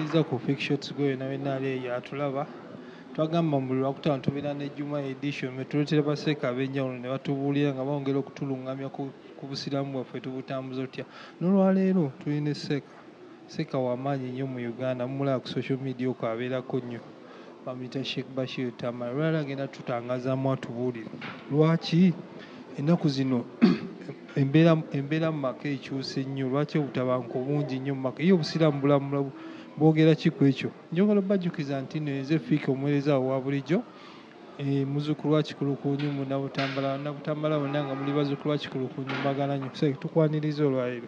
Tuza ku quick shots gwe wena wena ali eyo atulaba twagamba mu lwakutaano tubeera ne juma edition metuletera baseeka abenjawulo ne batubuulira nga bawongera okutulungamya ku busiraamu bwaffe tubutambuza otya nolwaleero tuli ne seeka seeka wamaanyi nnyo mu uganda mumulaba ku social media oko abeerako nnyo bamuyita sheikh bashir tamara lwala agenda tutangazamu atubuulire lwaki ennaku zino embeera mu maka ekyuse nnyo lwaki obutabanka obungi nnyo mumaka ye obusiraamu bulamula bwogera ki ku ekyo njogala obajjukiza nti no enze fiika omuweereza awo wa bulijjo e, muzukulu wa kikulukunyu munabutambala nabutambala wonna nga muli bazukulu wa kikulukunyu mbagala nyo tukwaniriza olwaleero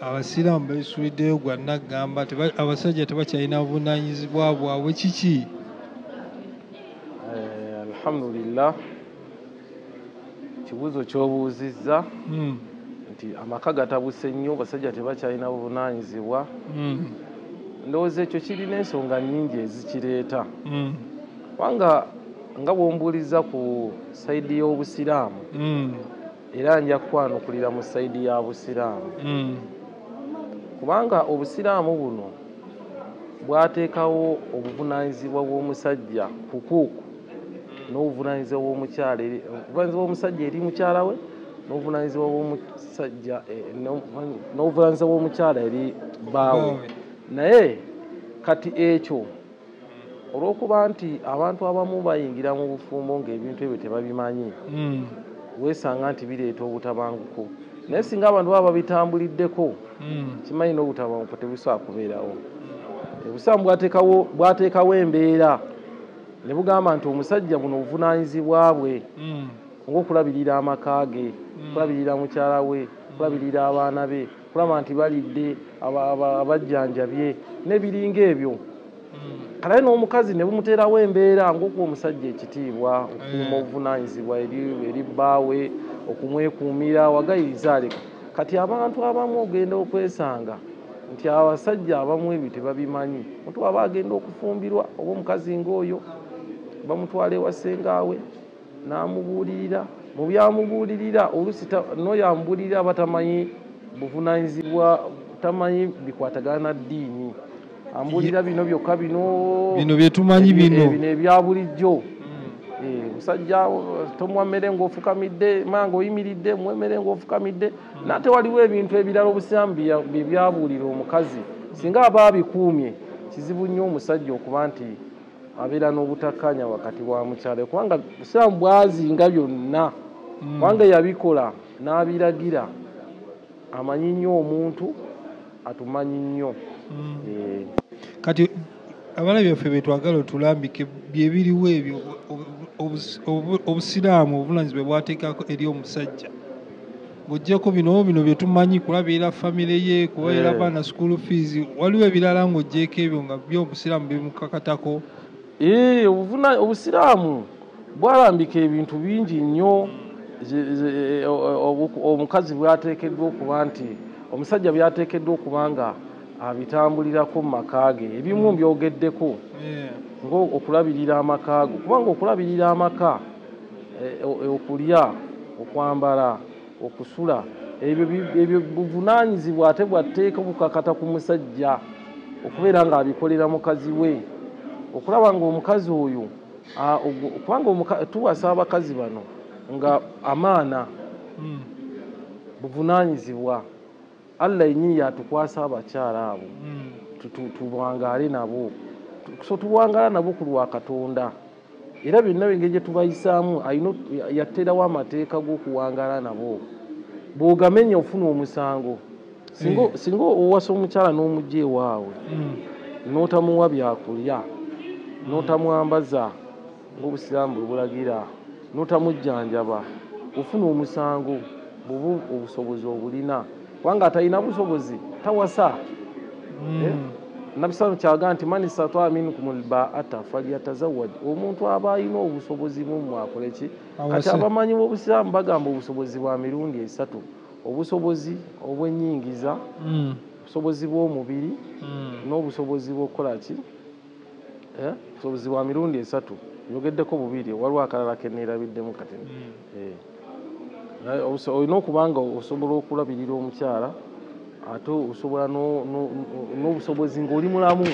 abasiraamu beesuuliddeyo gwa naggamba abasajja tebakyalina buvunaanyizibwa bwabwe kiki eh, alhamdulillah ekibuuzo kyobuuzizza hmm. nti amaka gatabuse nnyo basajja tebakyalina buvunaanyizibwa hmm. ndowooza ekyo kirina ensonga nnyingi ezikireeta hmm. kubanga nga bwombuuliza ku saidi y'obusiraamu era nja kukwanukulira mu saidi ya busiraamu hmm. kubanga obusiraamu buno bwateekawo obuvunanyizibwa bw'omusajja kukuuku n'obuvunanyizibwa bw'omukyala obuvunanyizibwa bw'omusajja eri mukyala we n'obuvunanyizibwa bw'omusajja eh, n'obuvunanyizibwa bw'omukyala eri baawe naye kati ekyo olwokuba nti abantu abamu bayingira mu bufumbo ng'ebintu ebyo tebabimanyi mm. weesanga nti bireeta obutabanguko naye singa abantu baba babitambuliddeko mm. kimanyi n'obutabanguko tebusaa kubeerawo obusiraamu bwateekawo embeera ne bugamba nti omusajja buno obuvunaanyizibwa bwe mm. ngaokulabirira amaka ge mm. okulabirira mukyala we mm. okulabirira abaana be kulaba nti balidde abajjanjabye nebiringa ebyo hmm. kalaye n'omukazi ne bumuteerawo embeera ngaokuwa omusajja ekitiibwa okuuma hmm. obuvunanyizibwa eri bbaawe okumwekuumira wagayirizaareka kati abantu abamu ogenda okwesanga nti abasajja abamu ebyo tebabimanyi mutu aba agenda okufumbirwa oba omukazi ngaoyo bamutwala ewasengaawe n'amubuulirira mu by'amubuulirira oluusi n'oyo amubuulirira aba tamanyi buvunaanyizibwa tamanyi bikwatagana na ddiini ambuulira bino byokka bino bino bye tumanyi bino bino ebya bulijjo hmm. eh, musajja tomuwa mmere ng'ofukamidde maa ng'oyimiridde muwa emmere ng'ofukamidde hmm. naate waliwo ebintu ebirala obusiramu bye byabuulira omukazi singa aba abikuumye kizibu nnyo omusajja okuba nti abeera n'obutakkaanya wakati wa mukyala we kubanga busiraamu bwazinga byonna mm. kubanga yabikola n'abiragira amanyi nnyo omuntu atumanyi nnyo mm. eh. kati abana byaffe betwagala otulambike byebiriwo ebyo obusiraamu obuvunanyizibwa bwateekako eri omusajja ng'ogyeko bino bino bye tumanyi kulabeera famire ye kubaira eh. baana school fees waliwo ebirala ng'ogyeko ebyo nga byo obusiraamu bimukakatako eh, obusiraamu bwalambika ebintu bingi nnyo eh, omukazi bwateekeddwa okuba nti omusajja byateekeddwa okuba nga abitambulirako mu maka ge ebimu mbyogeddeko ngaokulabirira amakaago kubanga okulabirira amaka eh, eh, okulya okwambala okusula ebyo buvunanyizibwa ate bwatteeka okukakata ku musajja okubeera ng'abikolera mukazi we okulaba ng'omukazi oyo ah, kubanga tuwasa abakazi bano nga amaana hmm. buvunanyizibwa allah yenyini yatukwasa abakyala abo hmm. tuwangaale nabo so tuwangala nabo ku lwa katonda era byonna engeri gye tubayisaamu yateerawo amateeka g'okuwangaala nabo bw'ogamenya ofuna omusango singa eh. owasa omukyala n'omugya ewaawe hmm. n'otamuwa byakulya n'otamwambaza ng'obusiraamu bwe bulagira n'otamujjanjaba ofuna omusango bubu obusobozi obulina kubanga atalina busobozi tawasa hmm. eh? nabi sa kyaga nti man istataa minkum lbaata falyatazawaj omuntu aba alina obusobozi mumwe akoleki kati abamanyi bobusiraamu bagamba obusobozi bwa mirundi esatu obusobozi obwenyingiza hmm. obusobozi bwomubiri hmm. n'obusobozi bwokukolaki Eh? busobozi bwa mirundi esatu nyogeddeko bubiri waliwo akalala keneerabiddemu kati hmm. eh. eh, olina okuba nga osobola okulabirira omukyala ate osobola n'obusobozi ng'oli mulamu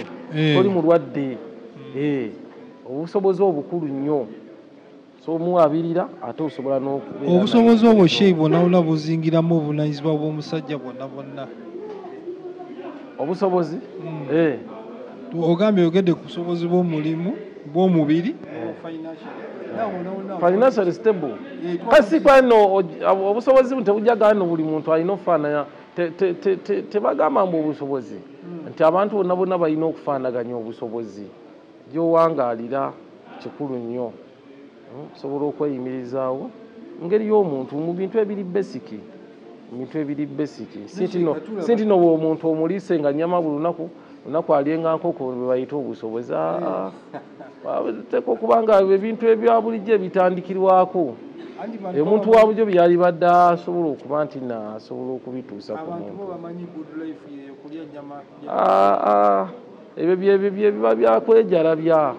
oli mulwadde hmm. obusobozi obukulu nnyo obusobozi obwo sheikh bwonabwona buzingiramu obuvunanyizibwa bw'omusajja bwonna bwonna obusobozi hmm. eh. ogambye oyogedde ku busobozi bw'omulimu bw'omubiri financial stable eh, kasi kwano obusobozi tebujja gano buli muntu alina okufaananya tebagamba mbu obusobozi hmm. nti abantu bonna bonna balina okufaanaganya obusobozi Gy'owangaalira kikulu nnyo. Hmm, osobola okweyimirizaawo ngeri y'omuntu mu bintu ebiri besiki ebintu ebiri besiki si ntino omuntu omuliise nga nyama buli lunaku lunaku alyenga nkoko bebayita obusobozi ah, ah, teeka okuba nga ebintu ebya bulijjo ebitandikirwako omuntu wa bujo byeyalibadde asobola okuba nti nasobola okubituusa ku muntu Ah, ah, ebyo byebiba byakwejalabya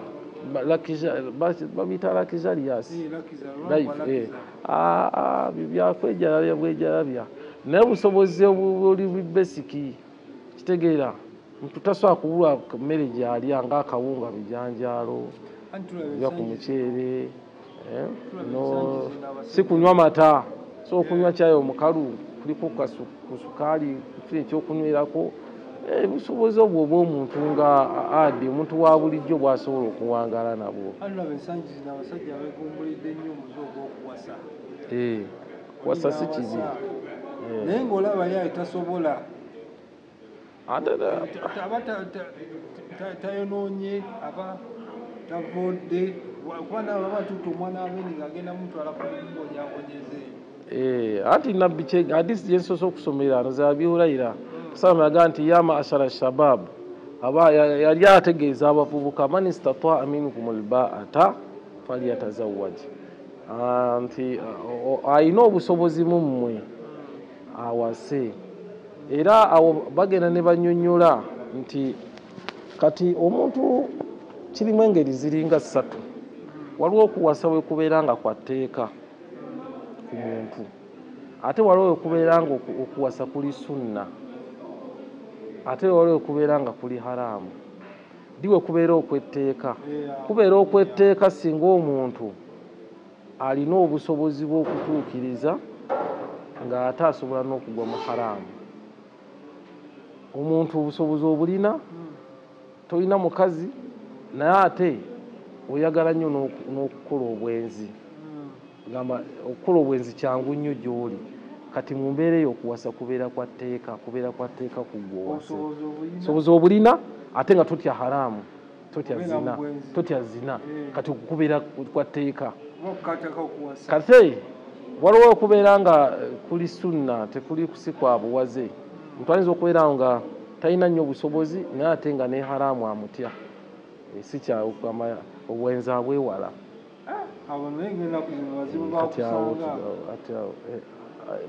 babita lakizalias eh, ah, byakwejalabya bwejalabya naye busobozi obuli bubesiki kitegeera mtu tasobola kubulwa mmere gyalya ngaakawunga bijanjaalo oba ku muceere eh, no si kunywa mata so okunywa kyayi omukalu kuliko ku sukaali kifuna ekyokunywerako eh, busobozi obwo obwomuntu nga adi omuntu wa bulijjo bwasobola okuwangala nabwo eh, kuwasa si kibi naye ngaolaba yaye tasobola aba tayonoonye aba tavudde kuba nawe aba tuuta omwana wamene ngaagenda mutwala kumbonyabonyeze eh, ati nabbi kyega hadisi gyensoose okusomera ano zabi hurayira hmm. salama yagaa nti ya maashara shabab aba yali ategeeza abavubuka man istataa minkum lbaata falyatazawaji ah, nti ah, alina obusobozi mu mmwe awase era awo bagenda ne banyonyola nti kati omuntu kirimu engeri ziringa ssatu waliwo okuwasa wekubeera nga kwa tteeka ku muntu ate waliwo wekubeera nga okuwasa kuli sunna ate waliwo wekubeera nga kuli haraamu diwe kubeera okwetteeka kubeera okwetteeka singa omuntu alina obusobozi bw'okutuukiriza ng'ate asobola n'okugwa mu haraamu omuntu obusobozi obulina tolina mukazi naye ate oyagala nnyo n'okukola obwenzi gamba okukola obwenzi kyangu nnyo gy'oli kati mu mbeera eyo okuwasa kubeera kwa tteeka kubeera kwa tteeka ku gwe owase obusobozi obulina ate nga totya haraamu totya zina totya zina eh. kati okukubira kwa tteeka kate waliwo okubeera nga eh, kuli sunna tekuli kusikwa buwaze omuntu ayinza okubeerawo nga talina nnyo obusobozi naye ate nga ne haraamu amutya eh, si kyaobwenzi abwewala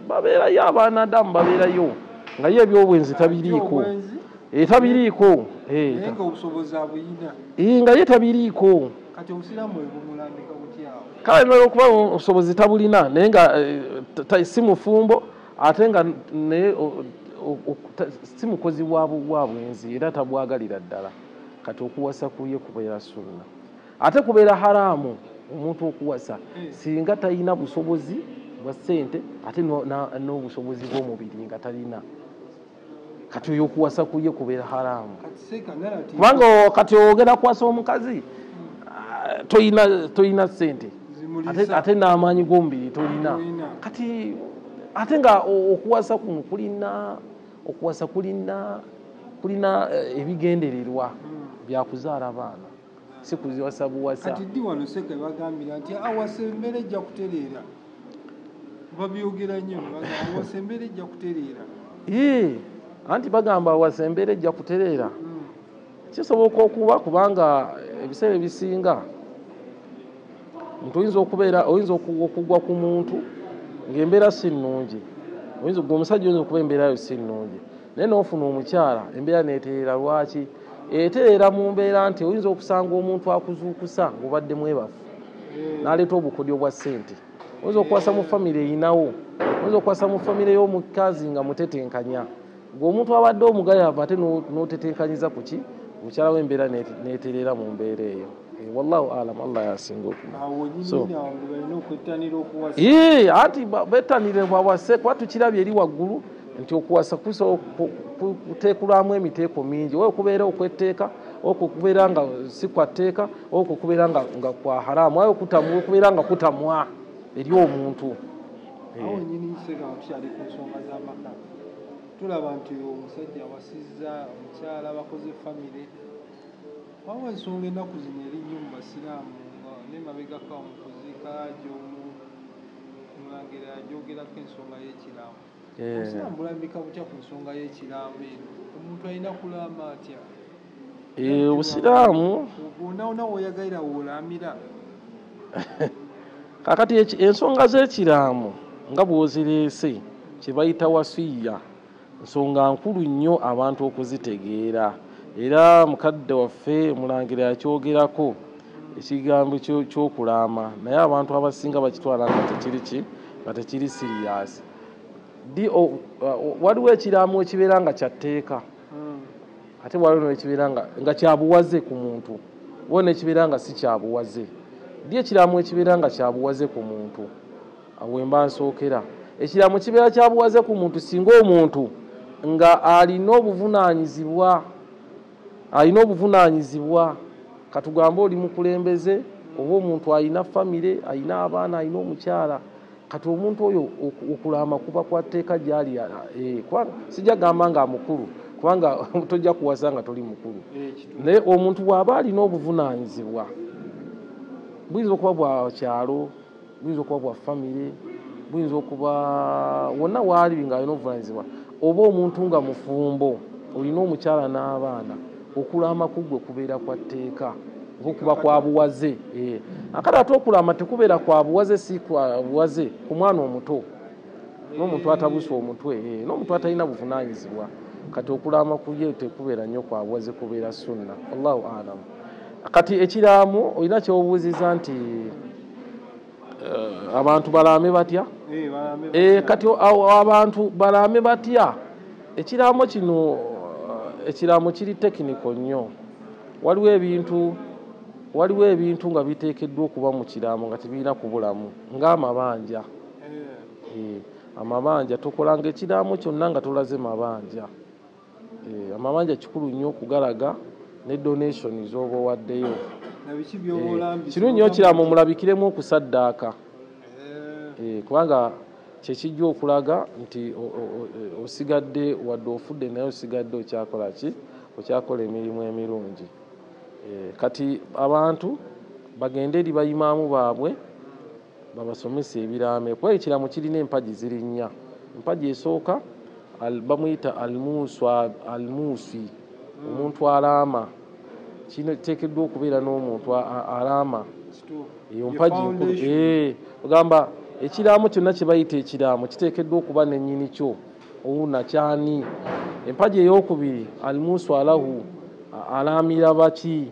babeerayo abaana adamu babeerayo nga ye ebyobwenzi tabiriiko etabiriiko eh, eh, eh, nga ye tabiriiko kale naye okuba obusobozi tabulina naye nga si mufumbo ate nga naye si mukozi wa bwenzi era tabwagalira ddala kati okuwasa kuye kubeera sunna ate kubeera haraamu omuntu okuwasa hmm. singa talina busobozi bwa ssente ate n'obusobozi bw'omubiri nga talina kati oyo okuwasa kuye kubeera haraamu kubanga kati ogenda kuwasa omukazi hmm. ah, tolina ssente ate n'amaanyi g'omubiri tolina kati ate nga okuwasa kuno kulina okuwasa kulina kulina eh, ebigendererwa hmm. byakuzaala baana sikuziwasa buwasa kati ddi wano seka bagambira nti awasa embeera ejja kutereera babyogera nnyo awasa embeera ejja kutereera ee anti bagamba awasa embeera ejja kutereera hmm. kisoboka okuba kubanga ebiseera ebisinga nti oyinza okubeera oyinza okugwa ku muntu ng'embeera si nnungi oyinza gwe omusajja oyinza okuba embeera yo si nnungi naye n'ofuna omukyala embeera neetereera lwaki eteera mu mbeera nti oyinza okusanga omuntu akuzuukusa ng'obadde mwebafu hmm. n'aleeta obukodyo bwa ssente oyinza okukwasa mu famire eyinawo oyinza okukwasa mu famire y'omukazi nga mutetenkanya ng'omuntu abadde omugayavu ate n'otetenkanyiza ku ki mukyala w'embeera n'etereera mu mbeera eyo eh, wallahu alam allah yasinga okumaanti bettanire bwawase kuba tukirabye eri waggulu nti okuwasa kuteekulwamu emiteeko mingi oba okubeera okwetteeka okwo okubeera nga si kwa tteeka okwo okubeera nga kwa haramu aye okubeera nga kutamwa eri omuntu tulaba nti omusajja awasizza omukyala bakoze famire waba ensonga ennaku zino erinnyo mu basiraamu nga nemabegako omukuziika ajomu mulangira ajogerako ensonga y'ekiraamo Eh. Obusiraamu bulambika butya ku nsonga y'ekiraamo eno? Omuntu alina kulaama atya? Eh, Obusiraamu Wonaawona w'oyagalira w'olaamira. kakati eki- ensonga z'ekiraamo nga bw'ozireese kye bayita wasiya nsonga nkulu nnyo abantu okuzitegeera era mukadde waffe omulangira yakyogerako ekigambo ky'okulaama naye abantu abasinga bakitwala nga tekiri ki nga tekiri siriyaasi uh, waliwo ekiraamo ekibeera nga kyatteeka hmm. ate waliwo nekibeera nga kyabuwaze ku muntu waliwo nekibeera nga si kyabuwaze di ekiraamo ekibeera nga kyabuwaze ku muntu awemba nsookera ekiraamo kibeera kyabuwaze ku muntu singa omuntu nga alina obuvunaanyizibwa alina obuvunaanyizibwa katugambe oli mukulembeze oba omuntu alina famire alina abaana alina omukyala kati omuntu oyo okulaama kuba kwa tteeka gyali eh, sijja gamba nga mukulu kubanga tojja kuwasa nga toli mukulu eh, naye omuntu bw'aba alina obuvunaanyizibwa buyinza okuba bwa kyalo buyinza okuba bwa famire buyinza okuba wonna waali nga alina obuvunanyizibwa oba omuntu nga mufumbo olina omukyala n'abaana okulaama ku gwe kubeera kwa tteeka okuba kwa buwaze eh. akati ate okulaama tekubeera kwa buwaze si kwa buwaze ku mwana omuto n'omuntu atabusa omutwe eh, n'omuntu atalina buvunanyizibwa kati okulaama kuye tekubeera nnyo kwa buwaze kubeera sunna allahu alamu kati ekiraamo olina kyobuuziza nti eh, abantu balaame batya eh, eh, kati abantu balaame batya ekiraamo kino ekiraamo kiri tekiniko nnyo waliwo ebintu waliwo ebintu nga biteekeddwa okuba mu kiraamo nga tebirina kubulamu ng'amabanja amabanja tukolanga ekiraamo kyonna nga tulaze mabanja Eh, amabanja kikulu nnyo okugalaga ne donation z'oba owaddeyo eh, kirungi nyo kirama omulabikiremu okusaddaaka eh. kubanga kyekijja okulaga nti osigadde wadde ofudde naye osigadde okyakola ki okyakola emirimu emirungi kati abantu bagende eri bayimaamu baabwe babasomesa ebiraamo kuba ekiraamo kirina empagi ziri nnya empagi esooka bamuyita almuuswi omuntu alaama kino kiteekeddwa okubeera n'omuntu alaama eyo mpagi nkulu eh, ogamba ekiraamo kyonna kye bayita ekiraamo kiteekeddwa okuba nennyini kyo owuna kyani empagi ey'okubiri almuuswi alahu alaamira baki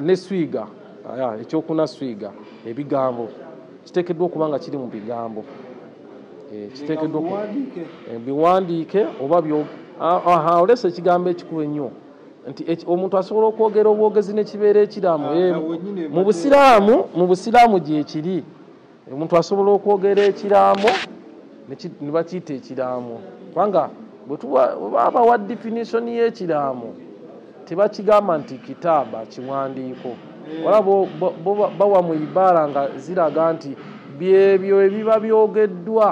ne swiga ekyokuna swiga ebigambo kiteekeddwa okuba nga kiri mu bigambo eh, kiteekeddwa eh, biwandiike oba olesa ekigambo ekikulu ennyo nti omuntu asobola okwogera obwogezi nekibeera ekiramu ah, eh, mu busiraamu mu busiraamu gyekiri omuntu asobola okwogera ekiraamo ne bakiyita ekiraamo kubanga bwebaba wa definition y'ekiraamo tebakigamba nti kitaaba kiwandiiko wala bawa mu ibaara nga ziraga nti byebyo ebiba byogeddwa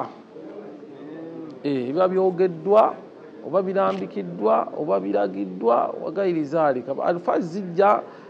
eh, ebiba byogeddwa oba birambikiddwa oba biragiddwa wagairizaali alfa zijja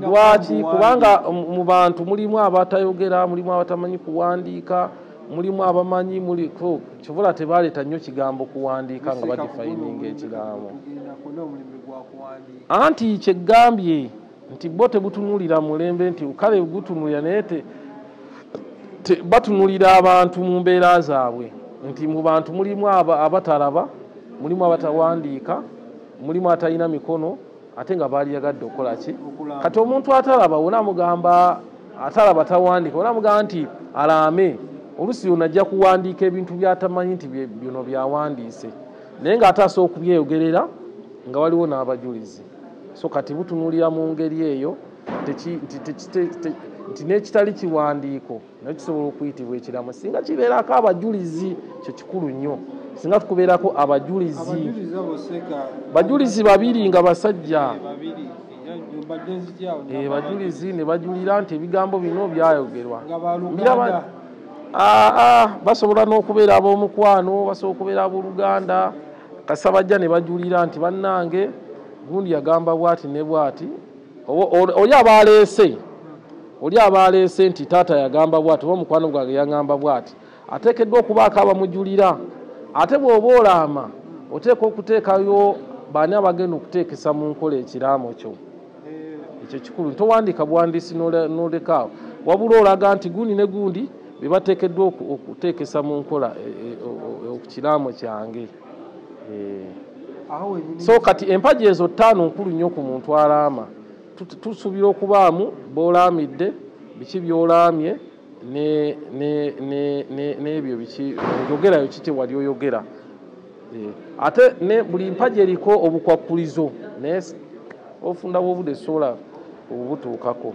lwaki kubanga mu bantu mulimu abatayogera mulimu abatamanyi kuwandiika mulimu abamanyi muli kivula tebaleeta nnyo kigambo kuwandiika nga bagifayininga ekigambo anti kyeggambye nti bo tebutunulira mulembe nti kale gutunulira naye batunulira abantu mu mbeera zaabwe nti mu bantu mulimu abatalaba mulimu abatawandiika mulimu atalina mikono ate nga baali yagadde okukola ki kati omuntu atalaba wona mugamba atalaba tawandika wona mugamba nti alaame olusi yona ajja kuwandiika ebintu byatamanyi nti byono byawandiise naye nga ate asobola okubyeyogerera nga waliwo n'abajulizi so kati butunulira mu ngeri eyo nti n'ekitali kiwandiiko naye kisobola okuyitibwa ekiramu singa kibeerako abajulizi kyo kikulu nnyo singa tukubeerako abajulizi bajulizi babiri nga basajja eh, eh, bajulizi ne bajulira nti ebigambo bino byayogerwa ah, ah, basobola n'okubeera ab'omukwano basobola okubeera ab'oluganda kasabajja ne bajulira nti bannange gundi yagamba bwati ne bwati oli aba aleese oli aba aleese nti taata yagamba bwati oba omukwano gwange yangamba bwati ateekeddwa okubaako abamujulira ate bw'oba olaama oteeka okuteekayo baani abagenda okuteekesa mu nkola ekiraamo kyo ekyo kikulu towandiika buwandiisi nolekaawo wabula olaga nti gundi ne gundi bebateekeddwa okuteekesa mu nkola e, e, okukiraamo kyange eh. so kati empagi ezo ttaano nkulu nnyo ku muntu alaama tusuubira okubaamu bolaamidde biki byolaamye n'ebyo biki oyogerayo kiki wali oyogera eh, ate ne buli mpagi eriko obukwakkulizo naye ofunda bwobude sola obubutuukako